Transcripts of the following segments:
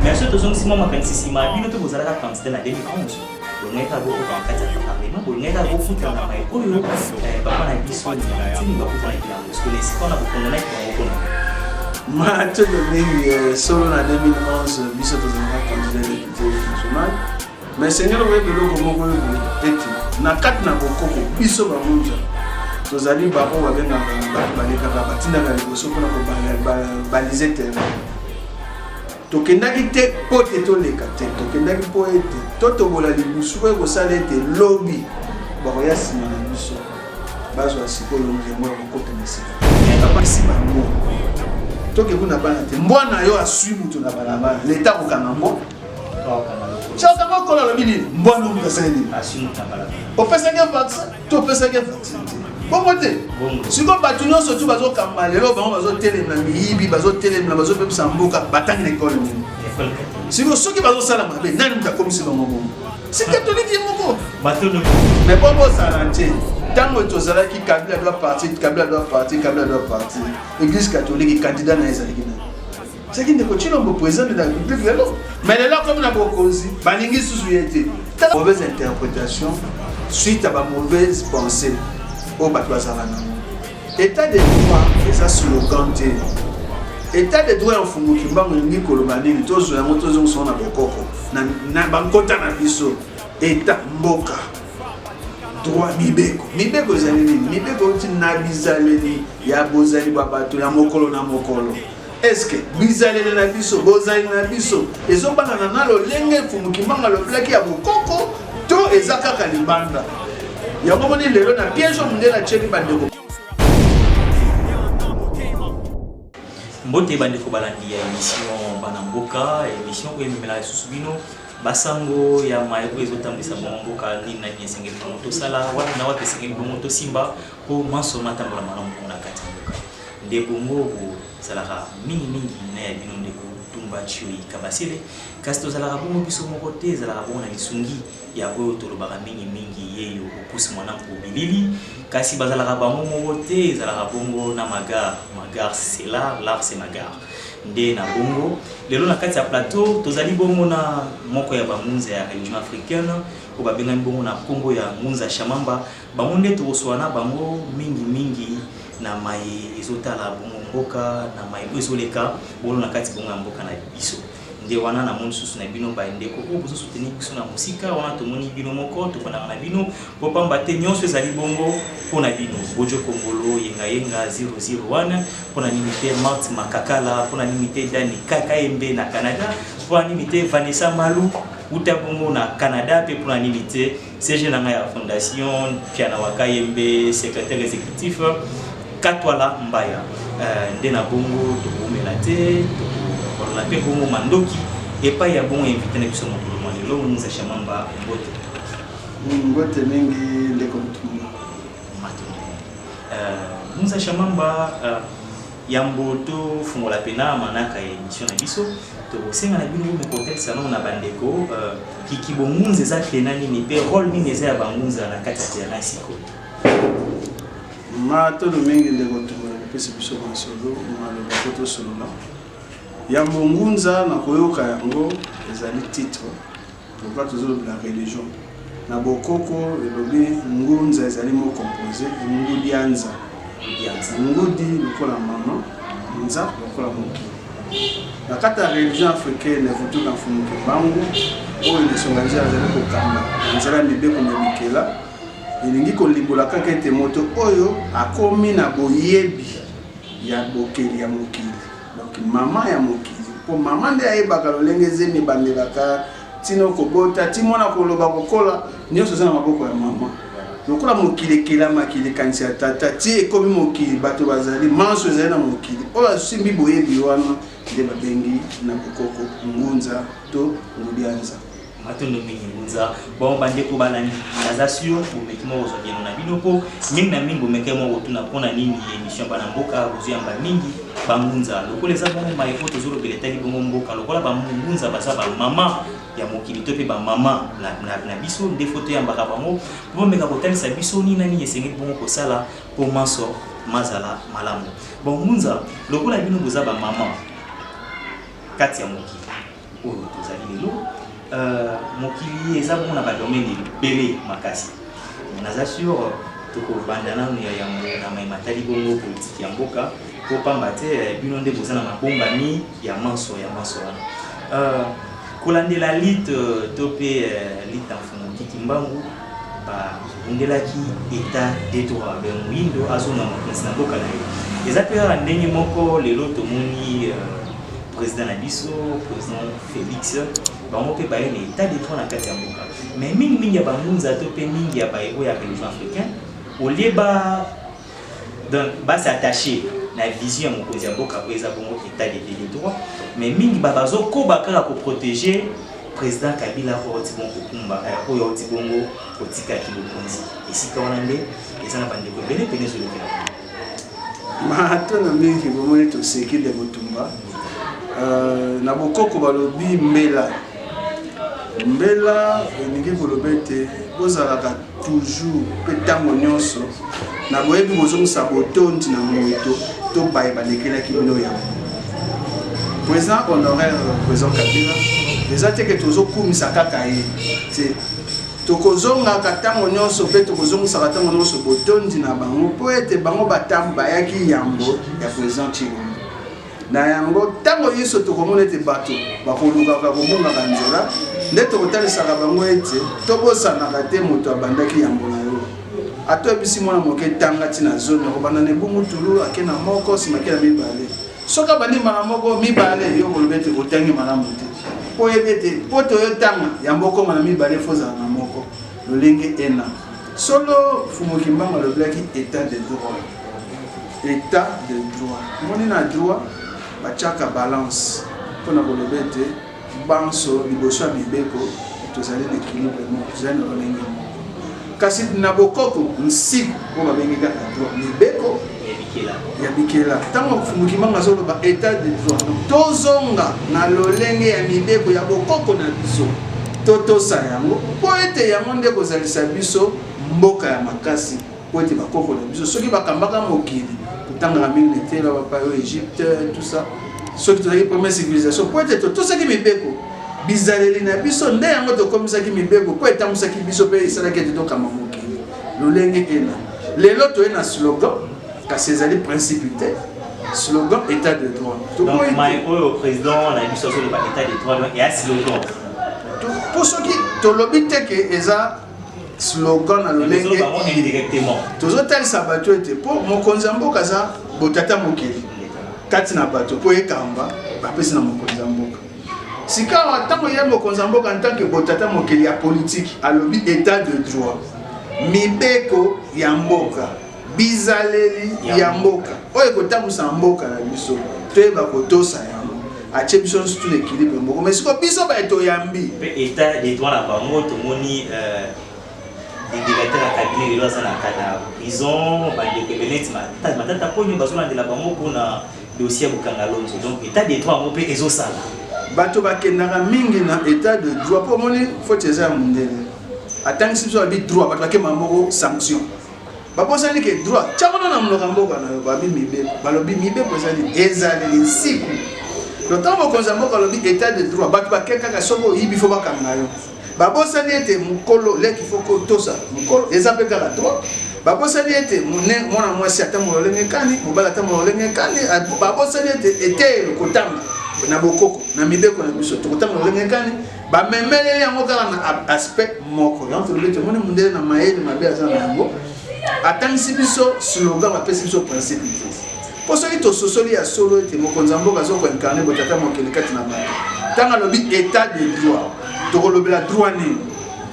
Mais ce tozongi sima makanisi sima bino mpe bozalaka candidat na 2011 bolingaki kaka bokota na kati ya parlement bolingaki kaka bofuta na mai oyo baba na biso ntini bakutanaki yango sikoyo na esika wana bokonganaki bango kuna mato lolenge solo na 2011 biso tozalaka candidat depute national Mais Seigneur, oyebi eloko moko oyo ete na kati na bokoko biso bamunza tozali baoyo babengaka bato balekaka batindaka liboso mpona kobalize terrain tokendaki te mpo te toleka te tokendaki mpo ete totobola libusu oyo ekosala ete lobi bakoya nsima na biso bazwa sikoyo molemo ya kokota na sika apesi bango toke kuna bana te mbwa na yo aswi moto na balabala leta kokanga mbwa Choka ko kola lobi nini? Mbwa nungu kasali nini? Opesaki vaccin to opesaki vaccin te. Bongo te. Siko bato nyonso tu bazokamba lelo bango bazotelema miyibi bazotelemela bazopemisa mboka batangi na ekole nini? Siko soki bazosala mabe nani moto akomisi bango bongo? Si catholique ye moko. Mais bongo ozala te. ntango tozalaki kabila doit partir kabila doit partir kabila doit partir église catholique candidat na ye ezalaki nani soki ndeko cilombo présente na public lelo mais lelo akomi na bokonzi balingi susu ye te mauvaise interprétation suite à bamauvaise pensée oyo bato bazala nango état de droit eza slogan te état de droit ya mfumu kimbangu elingi koloba nini tozwa yango tozongisango na bokoko na bankota na biso état mboka droit mibeko mibeko ezali nini mibeko euti na bizaleli ya bozali bwa bato ya mokolo na mokolo eske bizaleli na biso bozali na biso ezobanana na lolenge mfumu kimanga alobelaki ya bokoko to eza kaka libanda yango moni lelo na piège oyo mondele atyeli bandeko mbote bandeko balandi ya émission bana mboka émission oyo ememela lisusu bino basango ya maye oyo ezotambwisa bango mboka nini na nini esengeli bango tosala wapi na wapi esengeli bango tosimba mpo manso matambola malamu mpo na kati ya mboka Ndeko ngo bozalaka mingi mingi na ya bino ndeko Tumba Tshioyi Kabasele kasi tozalaka bongo biso moko te ezalaka bongo na lisungi ya oyo tolobaka mingi mingi yeyo Opus Mwanampo Bilili kasi bazalaka bango moko te ezalaka bongo na Magar Magar c'est l'art l'art c'est Magar nde na bongo lelo na kati ya plateau tozali bongo na moko ya bangunza ya religion africaine oyo babengani bongo na nkombo ya ngunza Shamamba Bango nde toko swa na bango mingi mingi na maye ezo tala bongo mboka na maye oyo ezo leka bolo na kati bongo ya mboka na biso. Nde wana na moni susu na bino baye ndeko oyo bozo soutenir biso na mosika wana to moni bino moko to fandaka na bino po pamba te nionso ezali bongo po na bino. Bojo Kongolo, Yenga Yenga, Zero Zero wana po na nini te Marthe Makakala, po na nini te Dany Kayembe na Canada, po na nini te Vanessa Malu wuta bongo na Canada pe po na nini te CG na ngai ya fondation Piana Wakayembe, secrétaire exécutif Katwala Mbaya euh, nde na bongo tokoumela te tokolona mpe bongo mandoki epai ya bongo invité na biso mokolo mwa lelo Muza Shamamba Mbote. Mbote mingi ndeko Mutumba. Matumba. Euh, Muza Shamamba euh, yambo tofungola mpena manaka ya émission na biso tokosenga na bino bomeka kotalisa nao na bandeko euh, kiki bongunza eza tena nini mpe role nini eza ya bangunza na kati ya terrain sikoyo matolo mingi ndeko tumbola kopesa biso masolo maloba po tosolola ya mongunza na koyoka yango ezali titre Pourquoi tozo lobela religion na bokoko elobi ngunza ezali mo compose ngudianza dianza ngudi lokola mama nza lokola mokili na kati ya religion africaine vutu na mfumu kimbangu oyo lisonga nzela azali kokamba na nzela ya mibeko mya bikela elingi kolimbola kaka ete moto oyo akomi na boyebi ya bokeli ya mokili Donc maman ya mokili po maman nde ayebaka lolenge zemi ebandelaka tino kobota ti mwana koloba kokola nyonso eza na maboko ya maman lokola mokili ekelamaki likanisi ya tata ti ekomi mokili bato bazali manso ezali na mokili oyo asimbi boyebi wana nde babengi na bokoko ngunza to ngudianza matondo mingi ngunza bon bandeko balandi naza sur bomeki moko kozwa bieno na bino mpo mingi na mingi bomekaki moko kotuna mpo na nini émission bana mboka bozwi yamba mingi bangunza lokola eza bongo mai mpo tozolobela etali bongo mboka lokola bangunza baza bamama ya mokili to mpe bamama na biso nde fo toyambaka bango mpo bameka kotalisa biso nini na nini esengeli bongo kosala mpo manso mazala malamu bangunza lokola bino boza bamama kati ya mokili oyo tozali lelo euh, mokili eza bongo na badomene ebele makasi naza sur tokobanda nanu ya yango na mai matali bongo politiki ya mboka mpo pamba te eh, bino nde boza na mabombami ya manso ya manso wana euh, kolandela lite euh, to mpe lite ya mfumu kiki mbangu babundelaki etat de droit me moyindo azonga makonzi na mboka na ye eza mpe kaka ndenge moko lelo tomoni euh, président na biso président félix bango mpe baye na etat de droit na kati ya mboka mais mingimingi ya bangunza to mpe mingi ya baye oyo ya religion africain olie ba donc ba s'attacher na vision ya mokonzi ya mboka oyo eza bongo état de deli droit mais mingi ba bazokoba kaka koprotege président kabila oyo auti bongo kokumba eh, oyo auti bongo kotikaki bokonzi esika wana nde eza na bandeko ebele mpene ezolekela matona mingi bomoni toseki nde motumba euh, na bokoko balobi mbela mbela elingi koloba ete bozalaka toujours mpe ntango nyonso na boyebi bozongisa botondi na moto to baye balekelaki bino yango président honoraire président kabila eza te ke tozokumisa kaka ye te tokozongaka ntango nyonso mpe tokozongisaka ntango nyonso botondi na bango mpo ete bango batambo bayaki yambo ya président chilombo Na yango, ntango nyonso tokomona ete bato bakolukaka kobungaka nzela, nde tokotalisaka bango ete tobosanaka te moto abandaki yambo na yo. Ata oyebisi mwana moke tanga ti na zomi, akobanda na ebungu tulu, ake na moko, nsima ake na mibale. Soki abandi mbala moko, mibale, yo okoloba ete otangi malamu te. Mpo oyebi ete mpo toyotanga yambo okoma na mibale, fozala na moko. Lolenge ena. Solo Mfumu Kimbangu alobelaki etat de droit. Etat de droit. Omoni na droit batiaka balance mpo na koloba ete banso liboso ya mibeko tozali na ekilibre moko, tozali na lolenge moko. Kasi na bokoko nsiko oyo babengi kaka droit mibeko ya bikela ntango mofumuki manga azoloba etat de droit tozonga na lolenge ya mibeko ya bokoko na biso totosa yango mpo ete yango nde kozalisa biso mboka ya makasi mpo ete bakoko na biso soki bakambaka mokili kotangaka mingi na etela bapayo egypte tout ça soki tozalaki première civilisation mpo ete totosaki mibeko bizaleli na biso nde yango tokomisaki mibeko mpo etambwisaki biso mpe esalaki ete tokamba mokili lolenge ena lelo toye na slogan kasi ezali principe te slogan état de droit tokoyimai oyo président na biso azoloba état de droit donc eya slogan mpo soki tolobi te ke eza slogan na lolenge tozotalisa bato ete mpo mokonzi ya mboka aza botata mokili kati na bato mpo ekamba bapesi na mokonzi ya mboka sikawa ntango ye mokonzi ya mboka ntanke botata mokeli ya politiki alobi etat de droit mibeko ya mboka bizaleli ya mboka oyo ekotambwisa na mboka na biso toyeba kotosa yango atie biso nyonso tuna ekilibre moko mai siko biso baye toyambi mpe etat de droit na bango tomoni euh, didilate na kabine lelo aza na prison bandeko ebele neti matata mponio bazolandela bango mpona Dossier ya kokanga Alonso. Donc etat de droit yango mpe ezosala. Bato bakendaka mingi na etat de droit mpo omoni foti eza ya mondele. Atangisi biso abi droit bato bakemaka moko sanction. Babosani ke droit tiango na monoko ya mboka na yo babi mibeko. Balobi mibeko ezali ezaleli nsiku. Donc ntango mokonzi ya mboka alobi etat de droit bato bakekaka soki oyibi fo bakanga yo. babosani ete mokolo leki fo kotosa mokolo eza mpe kaka trop babosani ete mwana mwasi atambola olenge kani mobali atambola olenge kani babosani ete eteyelo kotanga na bokoko na mibeko na biso tokotambola olenge kani bamemeleli yango kaka na aspect moko yango tolobi ete omoni mondele na mayele mabe aza na yango Atangisi biso slogan, apesi biso principe te. Mpo soki tososoli ya solo ete mokonzi ya mboka azo koincarne botata mokili kati na bato, ntango alobi état de droit, tokolobela droit nini?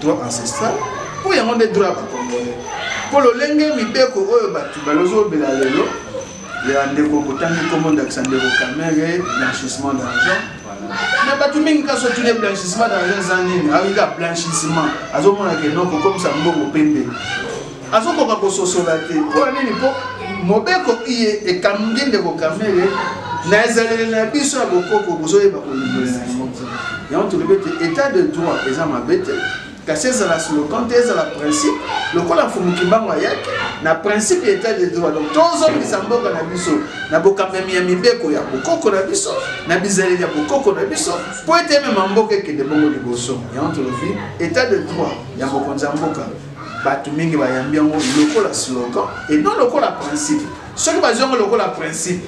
Droit ancestral, mpo yango nde droit ya bakongole. Mpo lolenge mibeko oyo bato balozobela lelo ya ndeko botangi nkombo ndakisa ndeko kamere blanchissement d'argent na bato mingi kasi otune blanchissement d'argent eza nini ayika blanchissement azomona ke no kokomisa mbongo pembe azokoka kososola te mpo nini mpo mobeko iye ekamgi ndeko kamere na ezaleli na biso ya bokoko bozoyeba kolongola yango yango tolobi ete état de droit eza mabe te Kasi ezala slogan te, ezala principe, lokola Mfumu Kimbangu ayaki na principe ya etat de droit. Donc tozongisa mboka na biso na bokambami ya mibeko ya bokoko na biso, na bizaleli ya bokoko na biso, mpo ete emema mboka ekende bongo liboso. Yango tolobi etat de droit ya mokonzi ya mboka bato mingi bayambi yango lokola slogan et non lokola principe soki bazwi yango lokola principe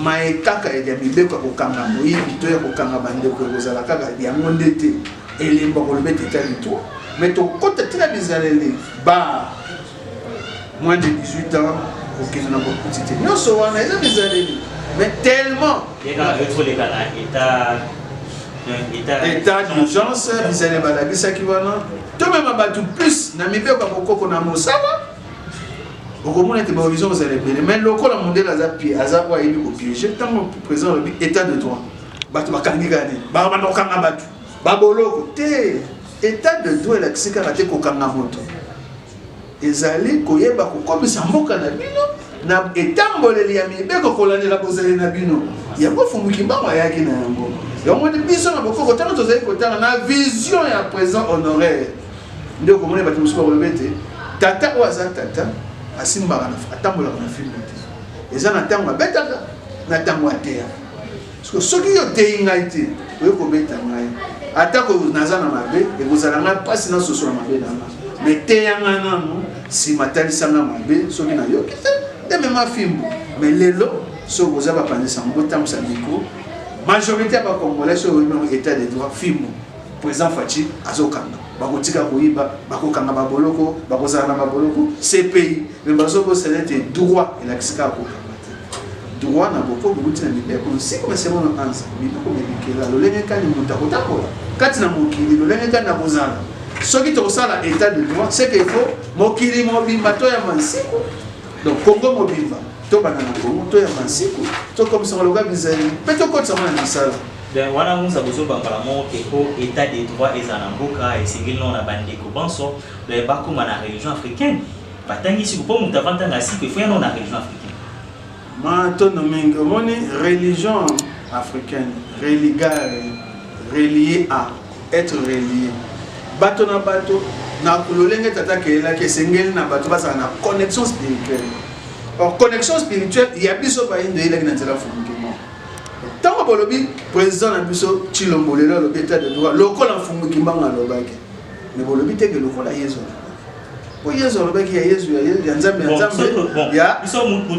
maye kaka ya mibeko ya kokanga moyibi to ya kokanga bandeko ekozala kaka yango nde te elembo koloba ete etya litwa me tokota ntina bizaleli ba moins de 18 ans kokende na bokuti te nyonso wana eza bizaleli me tellement état d'urgence bizaleli balakisaki wana tomema bato plus na mibeko ya kokoko na mosala okomona ete bahorizon ozala ebele mai lokola mondele aza pie aza oyo ayebi kopiege ntango président alobi état de droit bato bakangi kani bakokanga bato Baboloko te, etat de droit elakisi kaka te kokanga moto, ezali koyeba kokomisa mboka na bino na etamboleli ya mibeko kolandela bozali na bino yango fumu kimbangu ayaki na yango yamoni biso na bokoko ntango tozali kotala na vision ya présent honoraire nde okomona bato mosusu bakoloba ete tata oyo aza tata asimbaka atambolaka na filme te eza na ntango abetaka na ntango ateyaka Siko soki yo oteyi ngai te, oye kobeta ngai. Atako naza na mabe, ekozala ngai mpasi nasosola mabe na ngai. Me teya ngai nanu, nsima talisa ngai mabe, soki nayoki te, nde mema fimbu. Me lelo, soki boza bapanzi sango, botambusa mikro. Majorite ya bakongolais soki oyebi yango etat de droit, fimbu. President Fatshi azokanga. Bakotika koyiba, bakokanga baboloko, bakozala na baboloko. CPI. Mais bazo ko sala te droit elakisi kaka kokanga te. Droit na boko bouti na mibeko nsiko mais c'est bon ansa mibeko mibikela lolenge kani moto akotambola kati na mokili lolenge kani akozala soki tokosala état de droit c'est que faut mokili mobimba to ya mansiko donc Congo mobimba to bana na Congo to ya mansiko to komisa loka bizali pe to kotsa na misala donc wana musa bozoba mbala moko ke po état de droit ezala na mboka esengeli nao na bandeko banso donc bakóma na religion africaine batangi siko mpo moto avant ntanga siko efo yana na religion africaine matondo mingi omoni religion africaine religare relie a être relie bato na bato na lolenge tata akelelaki esengeli na bato bazala na connexion spirituelle or connexion spirituelle ya biso bayindo eyelaki na nzela fumukimo ntango bolobi président na biso cilombo lelo alobi etat de droit lokola mfumu kimbango alobaki me bolobi teke lokola yesu po yezu alobaki ya yezu ya nzambe ya nzambe ya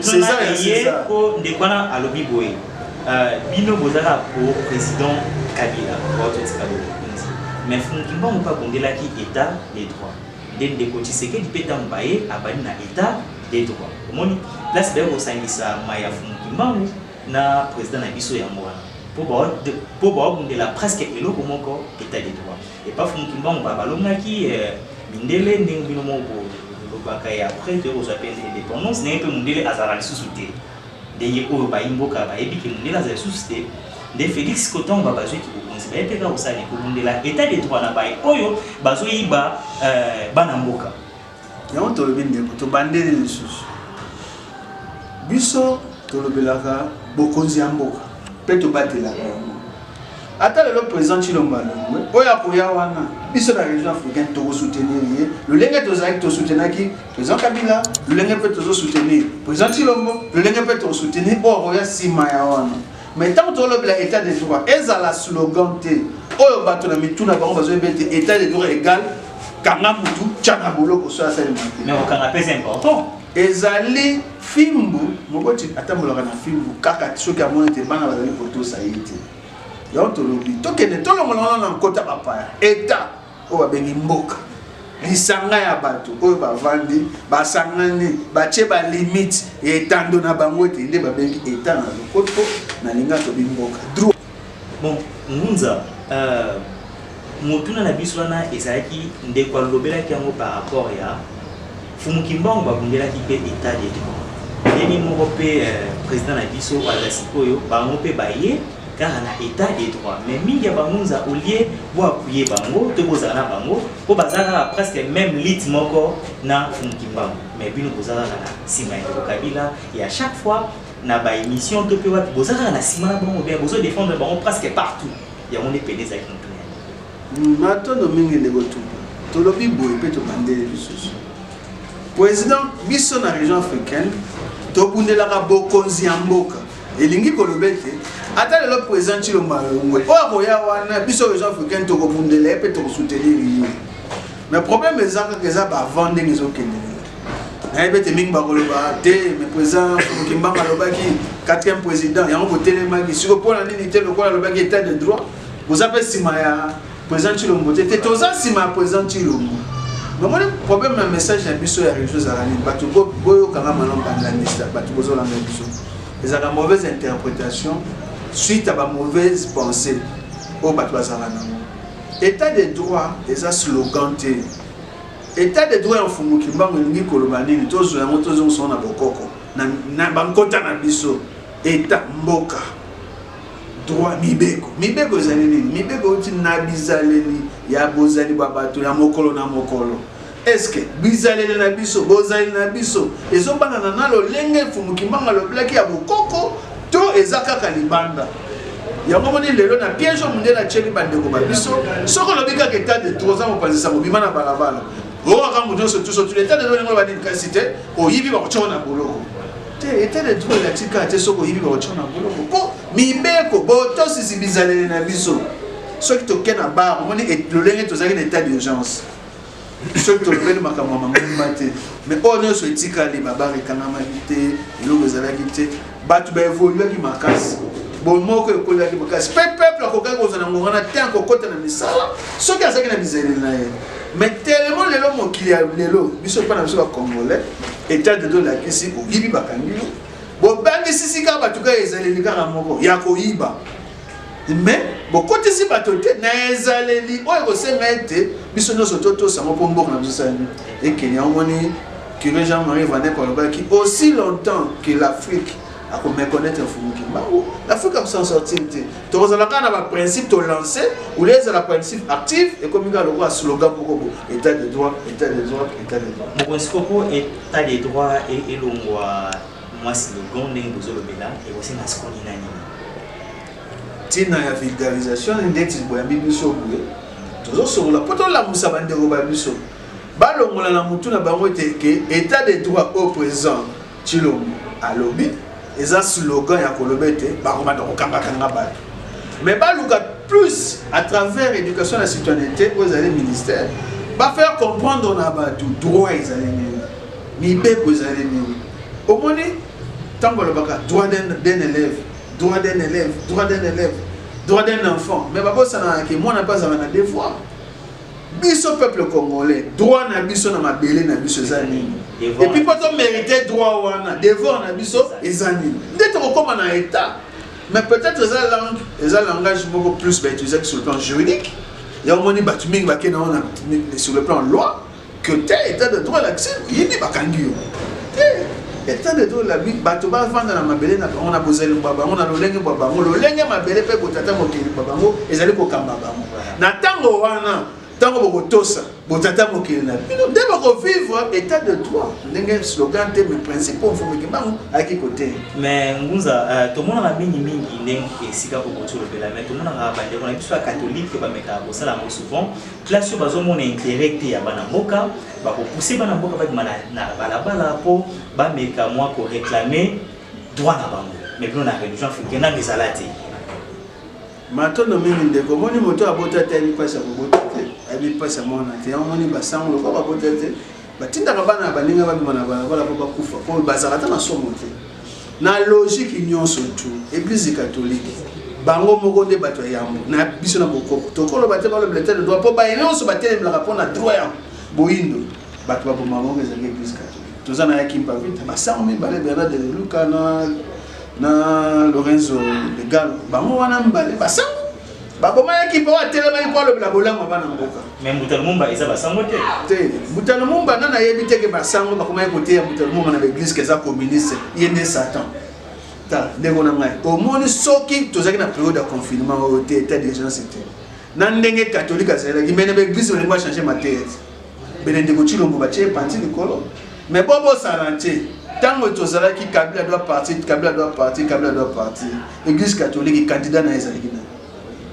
césar ya césar po ndeko wana alobi boye euh, bino bozalaka po président kabila baototika bokonzi mais fumukimbangu mpe abondelaki état de droit nde ndeko tshisekedi mpe ntango baye abandi na état de droit omoni place baye kosangisa mai ya fumukimbangu na président na biso yango wana mpo baobundela presque eloko moko état de droit epa fumukimbangu balongaki euh, mindele ndenge bino moko bolobaka ye après toye kozwa mpe indépendance ndenge mpe mondele azalaka lisusu te ndenge oyo bayi mboka bayebi ke mondele azala lisusu te nde félix ko ntango babazwi kibokonzi baye mpe kaka kosala ekobundela état de droit na baye oyo bazoyiba euh, bana mboka yango tolobi ndeko tobandeli lisusu biso tolobelaka bokonzi ya mboka mpe tobatelaka yango ata lelo président tshilombo alongwe oyo akoya wana biso na région africaine tokosoutenir ye lolenge tozalaki tosoutenaki président kabila lolenge mpe tozosoutenir président tshilombo lolenge mpe tokosoutenir oyo akoya nsima ya wana mais ntango tolobela état de droit ezala slogan te oyo bato na mitu na bango bazoyebi ete état de droit égal kanga mutu tya na boloko soki asalema te mais kokanga mpe c'est important Ezali fimbu moboti atambolaka na fimbu kaka soki amoni te bana bazali kotosa ye te yango tolobi tokende tolongola wana na nkota bapaya eta oyo babengi mboka lisanga ya bato oyo bavandi basangani batye balimite ya etando na bango ete nde babengi eta na lokoto na linga tobi mboka Bon, Ngunza, euh, motuna na biso wana ezalaki ndeko alobelaki yango par rapport ya Fumu Kimbangu babundelaki mpe état de droit. Ndenge moko mpe euh, président na biso aza sikoyo bango mpe baye kaka na état de droit. Mais mingi ya bangunza au lieu bo appuyer bango to bozala na bango mpo baza kaka presque même lutte moko na Fumu Kimbangu. Mais bino boza kaka na nsima ya ndeko Kabila ya chaque fois na ba émission to pe wapi boza kaka na sima na bango bien bozo défendre bango presque partout yango nde pene ezalaki motuna yango matondo mingi ndeko tupa tolobi boye mpe tobandeli lisusu président biso na région africaine tobundelaka bokonzi ya mboka elingi koloba ete ata lelo président cilomba yongwe oyo akoya wana biso région africaine tokobundela ye mpe tokosoutenir ye mais problème eza kaka eza bavant ndenge ezokende nayebi ete mingi bakoloba te mais président kimbanga alobaki quatrième président yango botelemaki siko mpo na nini te lokola alobaki état de droit boza mpe nsima ya président tshilombo te te toza nsima ya président tshilombo nomoni problème na message na biso ya réseau ezalaka nini bato boyokanga malamu bandandisa bato bozolanda biso ezalaka mauvaise interprétation suite ya bamauvaise pensée oyo bato bazalaka nango état de droit eza slogan te Etat de droit ya Mfumu Kimbangu elingi koloba nini? Tozwa yango tozongisa yango na bokoko na, na bankota na biso. Etat mboka droit mibeko mibeko ezali nini? Mibeko euti na bizaleli ya bozali bwa bato ya mokolo na mokolo eske bizaleli na biso bozali na biso ezobanana na lolenge mfumu kimbangu alobelaki ya bokoko to eza kaka libanda yango moni lelo na piège mundele atyeli bandeko ba biso soki olobi kaka etat de droit oza mopanzisa mobima na balabala oyoka moto nyonso tuso tu etat de droit yango banini kasi te oyibi bakotyoko na boloko te etat de droit elakisi kaka te soki oyibi bakotyoko na boloko mpo mibeko botosisi bizaleli na biso soki toke na bar omoni lolenge tozalaki na etat d'urgence soki tolobeli makambo ya mangomba te mais oyo nyonso etikali babare ekangamaki te eloko ezalaki te bato baevoluaki makasi bomoko ekolaki makasi mpe peuple akokaki kozwa na ngonga na te akokota na misala soki azalaki na bizaleli na ye mais telemo lelo mokili ya lelo biso mpo na biso bacongolais etat de dolakisi oyibi bakangi yo bobangisisi kaka bato kaka ezaleli kaka moko ya koyiba me bokotisi bato te na ezaleli oyo ekosenga ete biso nyonso totosa yango mpo mboka na biso esala nini ekende yango moni curé jean marie vanek alobaki aussi longtemps que l'afrique akomekonaître mfumu kimbangu l'afrique akosan sortir te tokozala kaka na baprincipe tolance olie ezala principe active ekomi kaka lokola slogan moko bo état de droit état de droit état de droit mokonzi koko état de droit elongwa mwa slogan ndenge bozolobela ekosenga sikoni na nini ntina ya vulgarisation ndeti boyambi biso boye tozosolola mpo tolamusa bandeko ba biso balongola na motu na bango ete ke état de droit au présent cilombo alobi eza slogan ya koloba ete bakobanda kokangakanga bato mais baluka plus à travers éducation na citoyenneté oyo ezali ministère bafaire comprendre na bato droit ezali nini mibeko ezali nini omoni ntango alobaka droit d'un élève droit d'un élève droit d'un élève droit d'un enfant mais babosanaka ke mwana mpe azala na devoir biso peuple congolais droit na biso na mabele na biso eza nini epuis mpo tomérite droit wana devoir na biso eza nini nde tokokóma na état mais peut-être eza langue eza langage moko plus bautilisaki sur le plan juridique ya omoni bato mingi bakenda wana sur le plan loi que te etat de droit elakisi yini bakangi yo te etat de droit elabi bato bafanda na mabele na bango na bozali bwa bango na lolenge bwa bango lolenge mabele mpe botata mokili bwa bango ezali kokamba bango na ntango wana ntango bokotosa botata mokili na bino nde bokovivre état de droit ndenge slogan te mais principe oyo mfumu kimbangu ayaki koteya mais ngunza euh, tomonaka mingi mingi ndenge esika kokoti olobela mais tomonaka bandeko na biso ya katolike bamekaka kosala yango souvent Classe oyo bazomona interet te ya bana mboka bakopuse bana mboka babima na balabala mpo bameka mwa koreklame droit na bango mais bino na religion africaine nano ezala te matondo mingi ndeko omoni moto oyo abota te ayebi mpasi ya kobota te ayebi mpasi ya mwana te yango omoni basango lokola babota te batindaka bana ya baninga babima na balabala mpo bakufa mpo bazalaka ata na somo te na logique nyonso tu eglise catholique bango moko nde bato ya yambo na biso na bokoko tokoloba te balobela te droit mpo baye nyonso batelemelaka mpo na droit ya boyindo bato baboma bango ezalaki eglise catholique toza na ya kimpavita basango mibale bernard de luka na na lorenzo de galo bango wana mibale basango babomayaki mpo atelemaki mpo alobela bolamu ya bana mboka mais mbutano mumba eza basango te te mbutano mumba nani ayebi te ke basango bakomaki koteya mbutano mumba na baeglise keza communiste ye nde satan ta ndeko na ngai omoni soki tozalaki na periode ya confinement oyo te etat d'urgence te na ndenge katholike azalaki mai na baeglise balingo achange mateya te bele ndeko Tshilombo batye panzi likolo mais bo bosana te ntango tozalaki kabila doit partir kabila doit partir kabila doit partir église catholique candidat na ye ezalaki nani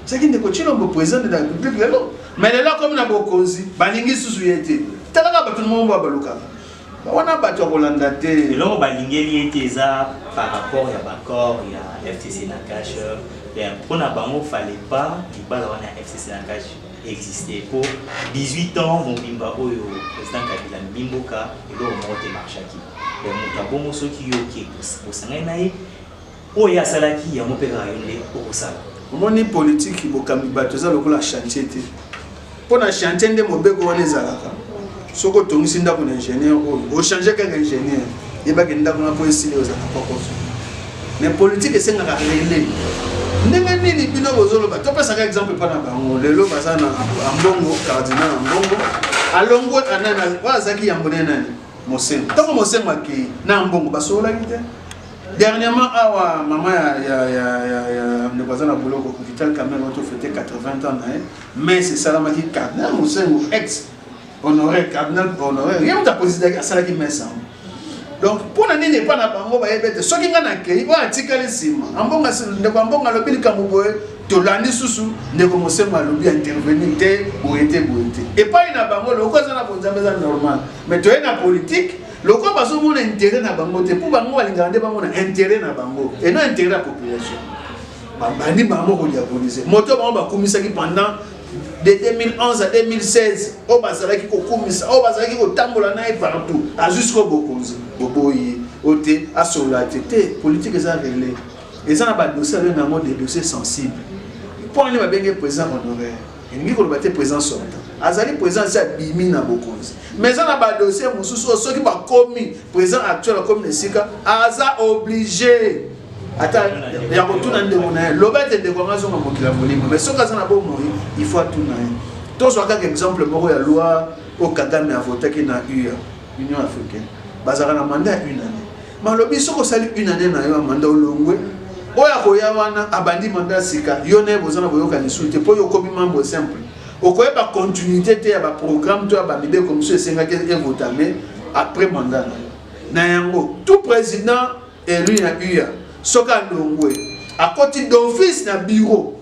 ezalaki ndeko Tshilombo président de la république lelo mais lelo akomi na bokonzi balingi susu ye te talaka bato moko ba balukaka wana bato ya kolanda te eloko balingeli ye te eza par rapport ya baccord ya fcc na cash mpona bango fale pas libala wana ya fcc na cash existe po 18 ans mobimba oyo president kabila amemi mboka eloko moko te marchaki ya moto abongo soki yo oke bosangani na ye oyo ye asalaki yango mpe kaka yo nde okosala omoni politiki bokambi bato eza lokola chantier te mpo na chantier nde mobeko wana ezalaka soki otongisi ndako na ingénieur oyo ochange kaka ingénieur yebaki ndako na mpo esili ozala kokoso mais politike esengaka rele ndenge nini bino bozoloba topesaka exemple mpo na bango lelo baza na ambongo cardinal ambongo alongwe anani oyo azalaki yambo ne nani mosengo ntango mosengo akei na ambongo basololaki te dernièrement awa mama ya ndeko aza na boloko vital camel oto fete 80 ans na ye mais esalamaki cardinal mosengo ex honore cardinal honore ye moto apresidaki asalaki mesa donc mpo na nini epai na bango bayebi ete soki ngai nakei oyo atikali nsima ambonga ndeko ambonga alobi likambo boye tolandi susu ndeko mosemo alobi ya intervenir te boye te boye te epai na bango lokola eza na bonzambe eza normal mais toye na politike lokola bazomona intérêt na bango te mpo bango balingaka nde bamona intérêt na bango et non intérêt ya population babandi bango kodiabolise moto bango bakumisaki pendant de 2011 à 2016 oyo bazalaki kokumisa oyo bazalaki kotambola na ye partout azwi sikoyo bokonzi boboyi ye oyo te asolola te te politike eza rele eza na badossier abenga yango de dossier sensible mpo wana babenge président honoraire elingi koloba te président sortant azali président asi abimi na bokonzi mais eza na badossier mosusu oyo soki bakomi président actuel akomi na esika aza oblige ata ya kotuna ndeko na ye loba ete ndeko yango azonga mokili ya molimo mais soki aza na bomoi il faut atuna ye tozwa kaka exemple moko ya loi oyo kagame avotaki na ua union africaine bazalaka na manda ya une année malobi soki osali une année na yo ya manda olongwe oyo akoya wana abandi manda ya sika yo naye boza na boyokani su te mpo yo okomi membre simple okoyeba continuité te ya baprogramme to ya bamibeko mosusu esengaki evotame après manda na yo na yango tout président Elu ya UA soki alongwe akoti d'office na bureau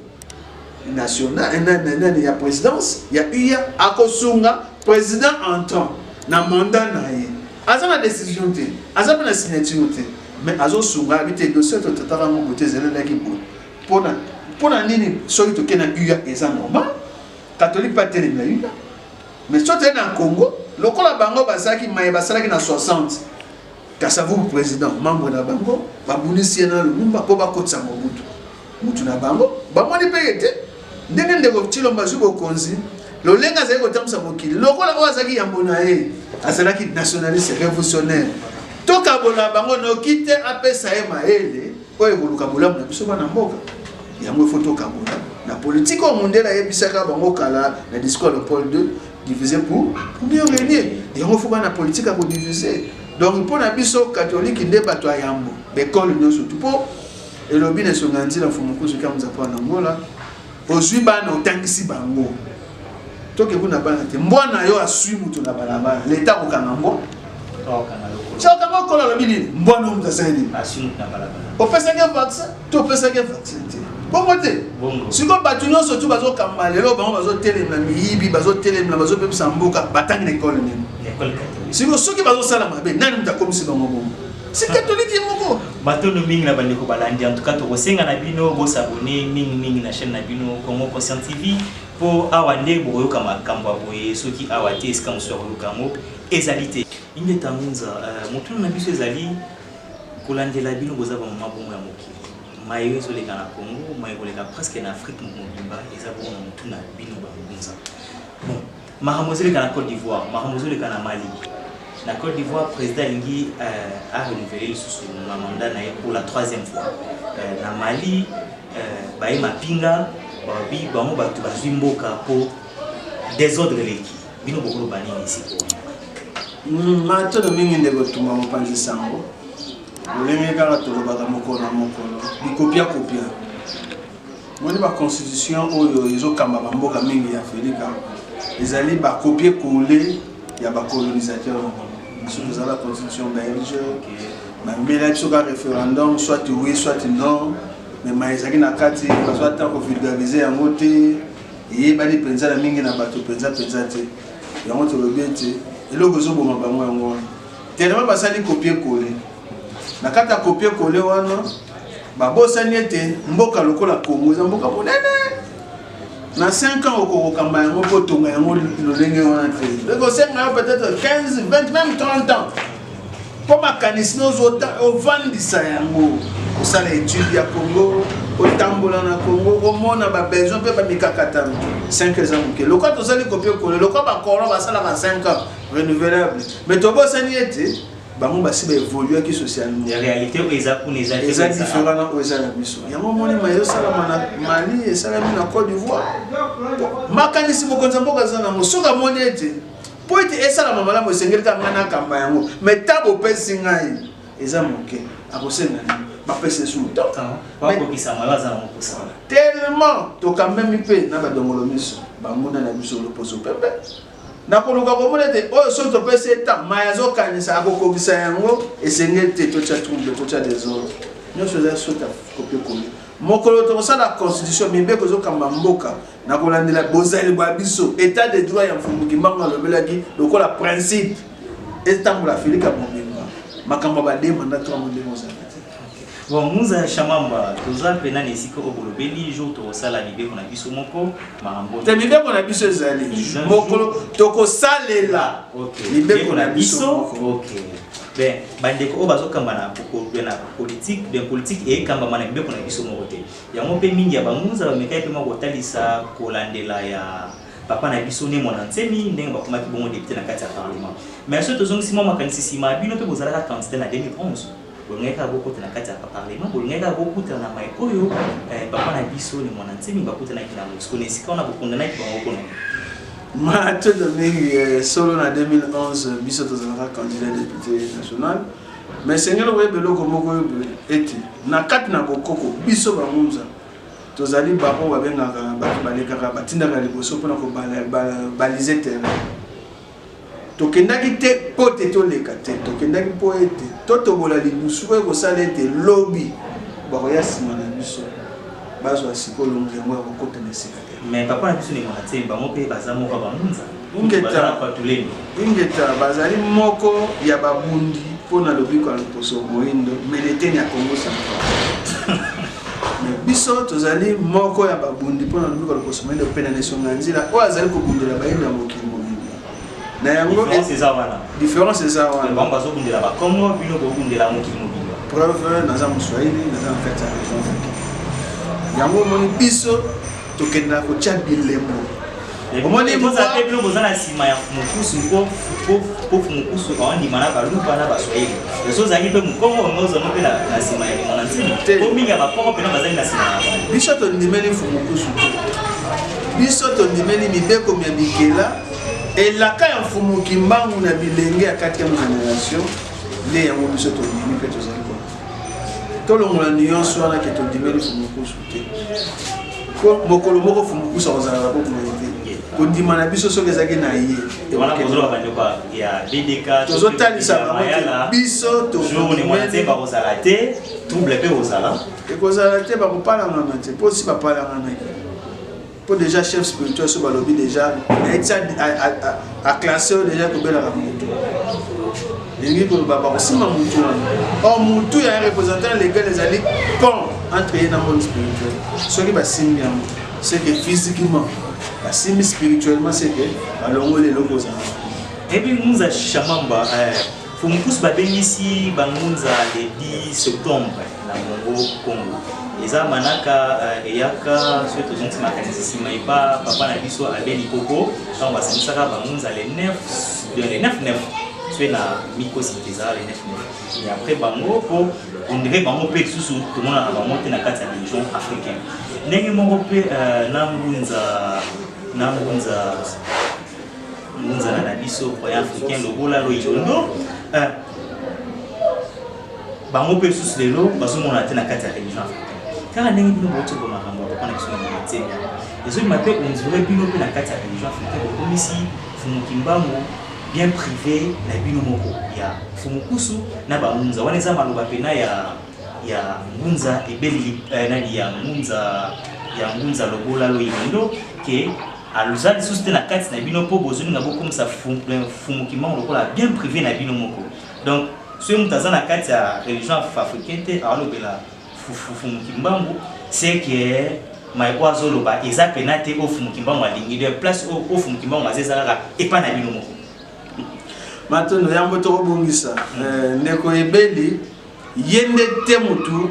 national eh, nani nani ya présidence ya UA akosunga président entrant na mandat na ye aza na décision te aza mpe na signature te mais azosunga abi te dossier totataka ngo bote ezelelaki boye mpona mpona nini soki toke na UA eza normal catholique mpe atelemi na UA mais soki toye na congo lokola bango bazalaki maye basalaki na 60 Kasavubu president membre na bango babundisi ye na Lumumba mpo bakotisa Mobutu mutu na bango bamoni mpe ye te ndenge ndeko Tshilombo azwi bokonzi lolenge azali kotambusa mokili lokola oyo azalaki yambo na ye azalaki nationaliste révolutionnaire tokabola bango noki te apesa ye mayele oyo ekoluka bolamu na biso bana mboka yango ifo tokabola na politike oyo mondele ayebisaka bango kala na discours ya paul 2 diviser pour, pour mieux régner yango fo bana politique akodiviser donc mpo na biso katolike nde bato ya yambo baekole nyonso tu mpo elobi na esonga ya nzila mfumukusu kiamuza mpo na ngola ozwi bana otangisi bango toke kuna bana te mbwa na yo aswi moto na balabala leta akokanga mbwa okanga okolo alobi nini mbwa na yo moto asali nini opesaki vaccin topesaki ye vaccine te bongo te sikoyo bato nyonso tu bazokamba lelo bango bazotelemela miyibi bazotelemela bazobebisa mboka batangi na ekole nini sikoyo soki bazosala mabe nani moto akomisi bango bongo si katolike moko batondo mingi na bandeko balandi en tout cas tokosenga na bino bosabone mingi mingi na chaîne na bino congo conscient tv mpo awa nde bokoyoka makambo ya boye soki awa te esika mosusu akoyoka yango ezali te inge tangunza euh, motuna na biso ezali Kolandela bino boza ba mama bongo ya mokili. Maye yo ezoleka na Congo, maye koleka presque na Afrique mobimba eza bongo na mutu na bino ba ngunza. Bon, makambo ezoleka na Côte d'Ivoire, makambo ezoleka na Mali. Na Côte d'Ivoire, président alingi euh, a renouveler lisusu na mandat na ye pour la troisième fois. Euh, na Mali, euh, baye mapinga babi bango bato bazwi mboka mpo desordre eleki. bino bokoloba nini sikoyo hmm, matono mingi nde kotuma mopanzi sango lolenge kaka tolobaka mokolo na mokolo bikopia kopia moni baconstitution oyo ezokamba bamboka mingi ya afrika ezali bakopie kole ya bacolonisateur biso tozala constitution belge bambela biso ka référendum soit oui soit non mais ma ezalaki na kati bazwa ntango vulgarise yango te eyebani mpenza na mingi na bato mpenza mpenza te yango tolobi ete eloko ezoboma bango yango wana telema basali kopie kole na kati ya kopie kole wana babosani ete mboka lokola kongo eza mboka monene na 5 ans okokokamba yango kotonga yango lolenge wana te ekosenga yo peut-être 15 20 même 30 ans mpo makanisi nozo ovandisa yango osala etude ya congo otambola na congo omona babesoin mpe bamikakatano 5 eza moke lokwa tozali kopi ekolo lokwa bacolon basalaka 5 ans renouvelable mais tobosani ete bango basi baevoluaki socialementaza différent na oyo eza na biso yango omoni maye osalama na mali esalami na cote d'ivoire makanisi mokonzi ya mboka aza nango soki amoni ete Mpo ete esalama malamu, esengeli kaka ngai nakamba yango, me ntango opesi ngai eza moke, akosenga nini? bapesa esu moto tellement tokambemi mpe na badongolo miso banguna na biso loposo pepe nakoluka komona ete oyo soki topesi etan mai azokanisa akokokisa yango esengeli te totya trouble totya desordre nyonso eza sota kopekoli mokolo tokosala constitution mibeko ezokamba mboka na kolandela bozali bwa biso etat de droit ya mfumu kimbangu alobelaki lokola principe etambola afilika mobimba makambo ya badema na twango ndenge ozali bon muza ya shamamba toza mpena na esika oyo bolobeli jour tokosala mibeko na biso moko makambo te mibeko na biso ezali mokolo tokosalela mibeko na biso okay. ben bandeko oyo bazokamba na politike ben politike eyekambama na mibeko na biso moko te Yango mpe mingi ya bangunza bamekaki mpe mwa kotalisa kolandela ya papa na biso ne mwana nsemi ndenge bakomaki bongo depute na kati ya parlement mais soki tozongisi mwa makanisi nsima ya bino mpe bozalaka candidat na 2011 bolingaki kaka bokota na kati ya parlement bolingaki kaka bokutana na mai oyo eh, papa na biso ni mwana nsemi bakutanaki na mosiko na esika wana bokundanaki bango kuna matondo mingi eh, solo na 2011 biso tozalaka candidat député national me esengeli koyeba eloko moko oyo boye ete na kati na bokoko biso bangunza tozali baoyo babengaka bato balekaka batindaka liboso mpona kobalize terrain tokendaki te mpo te toleka te tokendaki mpo ete totobola lidusu oyo kosala ete lobi bakoya nsima na biso bazwa sikoyo longi yango ya kokota na esika Mais papa na biso ndeko na tse bango mpe baza moko ya bamunza ingeta patuleni ingeta bazali moko ya babundi mpo na lobiko ya loposo moindo meleteni ya kongo central biso tozali moko ya babundi mpo na lobiko ya loposo moindo mpe na nesonga ya nzila oyo azali kobundela bayindo ya mokili na yango différence eza wana différence eza wana bango bazobundela bakongo bino bobundela mokili mobimba preuve naza moswahili naza na kati ya région afrique yango omoni biso tokendaka kotya bilembo omoni bino boza na nsima ya mokusu mpo mokusu aondima na baluba na baswahili eso ozalaki mpe mokongo yango ozango mpe na nsima ya limona ntina mpo mingi ya bakongo mpena bazali na nsima ya biso tondimeli mokusu te Biso tondimeli mibeko mya bikela elaka ya mfumu kimbangu na bilenge ya 4e generation nde yango biso tondimi mpe tozali kona tolongola nuance wana ke tondimeli fumukusu te po mokolo moko fumukusu akozala na bokuma ye te kondima na biso soki ezalaki na ye tozotalisa bango biso tozala te trouble mpe ozala ekozala te bakopalangana te mpo si bapalanganaki mpo déjà chef spirituel so balobi déjà naiti aclasse oyo déjà ekobelaka moto elingi koloba bakosimba motu wana or motu ya représentant legal ezali pont entre ye na monde spirituel soki basimbi yango seke physiquement basimbi spirituellement seke balongoli eloko ozala ebi muza shamamba eh. Fumukusu babengisi bangunza le 10 septembre na Congo Congo eza manaka uh, eyaka soki tozongisi makanisi nsima epa papa na biso abe likoko ntango basangisaka bangunza le 9 le 9 9 soki na mikosi te ezala le 9 9 et après bango mpo ondire bango mpe lisusu tomonaka bango te na kati ya religion africaine ndenge moko mpe uh, na ngunza na ngunza Nzala na biso croyant africain lobola loyondo euh, bango mpe lisusu lelo bazomona te na kati ya religion africaine kaka ndenge bino bouti ko makambo ya papa na biso na materia ezobima mpe ondire bino mpe na kati ya religion africaine bokomisi fumu kimbangu bien privé na bino moko ya fumu kusu na bangunza wana eza maloba mpena ya ya ngunza ebeleli eh, nani ya ngunza ya ngunza lobola loyindo ke aloza lisusu te na kati na bino mpo bozolinga bokomisa fumu kimbangu lokola bien privé na bino moko donc soki moto aza na kati ya religion africain te aolobela fumu kimbangu c'est que mai oyo azoloba eza pena te oyo fumu kimbangu alingi de place oyo fumu kimbangu aza eza kaka epai na bino moko matondo yango tokobongisa eh, ndeko ebeli ye nde te motu